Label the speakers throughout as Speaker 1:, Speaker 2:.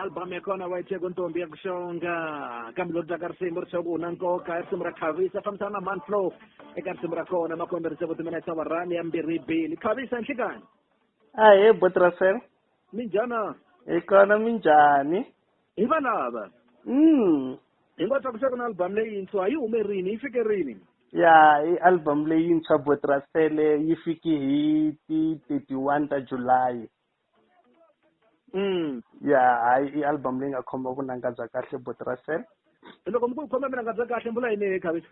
Speaker 1: albhamu yakona waithe kuntombi yakushonga kambe loko taka risimu ri swaku una nkoka i risimu ra khavisa fambisana na manflow eka risimu ra kona makombe risimu timina isawa rani ya mbirhi bili khavisa nhlikani ahee
Speaker 2: botrasel minjhana
Speaker 1: hi kona
Speaker 2: minjhani hi valava
Speaker 1: Mm. hi nga tlakusa ku na album leyintshwa yi hume rini yi fike rini ya i
Speaker 2: album leyintshwa botrasele yi fiki hi ti 31 ta july mm ya hayi i album leyi nga khoma vunanga bya kahle botrasele loko mi ku
Speaker 1: khoma mina nga bya kahle mbula yini hi khavi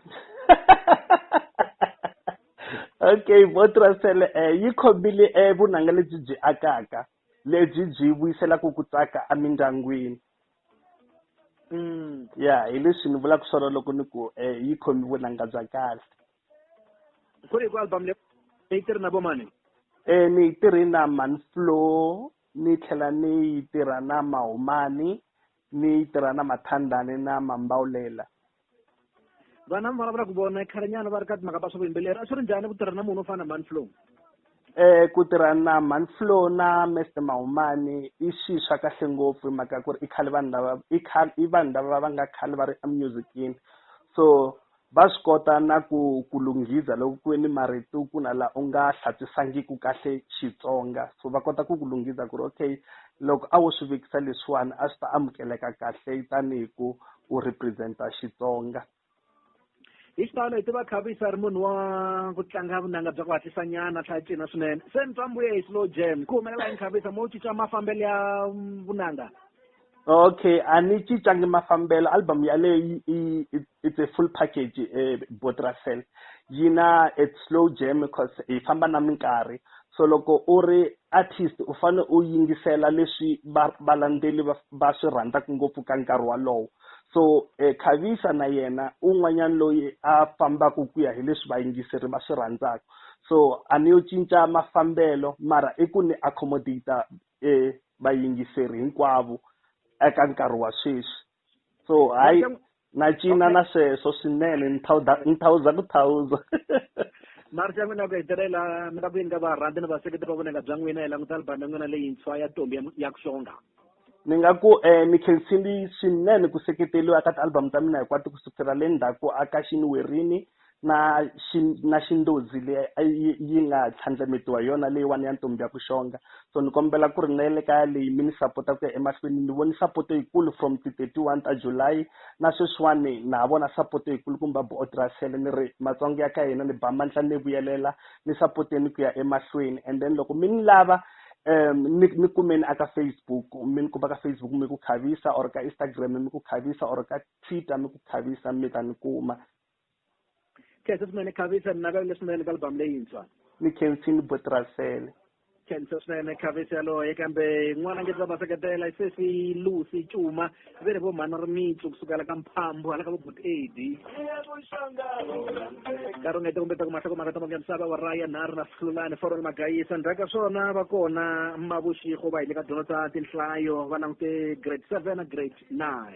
Speaker 2: okay botrasele um yi khomile um vunanga lebyi byi akaka lebyi byi vuyiselaku ku tsaka emindyangwini mm. ya hi leswi ni vulaka swona loko ni ku um yi khomi vunanga bya kahle
Speaker 1: ku ri ku album le ni yi tirhi na vo mani um ni yi
Speaker 2: tirhi na manflow ni tlhela ni yi tirha na mahumani ni yi tirha na mathandani na mambawulela
Speaker 1: vana mi vulavula ku vona khalenyana va ri ka timhaka ta swa vuyimbeleri a swi ri njhani ku tirha na munhu wo fana na manflow eh ku
Speaker 2: tirha na manflow na mester mahumani i xi swa kahle ngopfu hi mhaka ku ri i khale vanhu lava i khale i vanhu lava va nga khale va ri emusicini so va swi kota na ku ku lunghiza loko ku ve ni marito ku na la u nga hlatswisangiki kahle xitsonga so va kota ku ku lunghiza ku ri okay loko a wo swi vekisa leswiwani a swi ta amukeleka kahle tanihi ku u representa xitsonga
Speaker 1: hi xitalo hi tiva khavisa ri munhu wa ku tlanga vunanga bya ku hatlisa nyana a tlhela cina swinene se ni twa mbuye hi slow jam ku humelela hi nkhavisa mo cinca mafambelo ya vunanga okay
Speaker 2: a ni cincangi mafambelo album yaleyo yi- yi- it- it's a full package eh, botrasel yi na a slow jam because yi famba na minkarhi so loko u ri artist u fanele u yingisela leswi va- valandzeli va- va swi rhandzaka ngopfu ka nkarhi walowo so eh, khavisa na yena un'wanyana loyi a fambaka ku ya hi leswi vayingiseri va swi rhandzaka so a ni yo cinca mafambelo mara i ku ni accommodate e vayingiseri hinkwavo eka nkarhi wa sweswi so hayi na cina na sweswo swinene ni thawuza ni thawuza ku thawuza
Speaker 1: marisi ya n'wina ya ku hetelela mi ta ku yini ka varhandzi ni vaseketeri va vonaka bya n'wina hi languta albhamu ya n'wina leyintshwa ya tombi ya ku xonga ni nga ku
Speaker 2: um mi khensini swinene ku seketeriwa ka ti-album ta mina hinkwato ku sukusela le ndzhaku a ka xini werini na xi na xindodzi leyi a yi yi nga tlhandlametiwa hi yona leyiwani ya ntombi ya ku xonga so ni kombela ku ri na le kaya leyi mi ni sapota ku ya emahlweni ni voni sapoto yikulu from ti thirty one ta July na sweswiwani na ha vona sapoto yikulu kumba buotirasele ni ri matsonga ya ka hina ni ba mandla ni vuyelela ni sapoteni ku ya emahlweni and then loko mi ni lava um ni ni kumeni aka Facebook mi ni kuma ka Facebook mi ku khavisa or ka Instagram mi ku khavisa or ka Twitter mi ku khavisa mi ta ni kuma
Speaker 1: khensa swinene khavisa ninavelele swinene ka album leyintshwa ni khensini
Speaker 2: botrasele khensa
Speaker 1: swinene khavisa yaloye kambe n'wana nge va va seketela sesi lucy cuma ve ri vo mhana ri mitsu kusukela ka mphambu hala ka vo bot ad karungete kumbe ta ku mahloko maka tamoke misava wa raya nharhu na sihlulani forol magayisa ndzhaku ka swona va kona mavuxigo va hi le ka dyondzo ta tinhlayo va langute grade seven na grade nine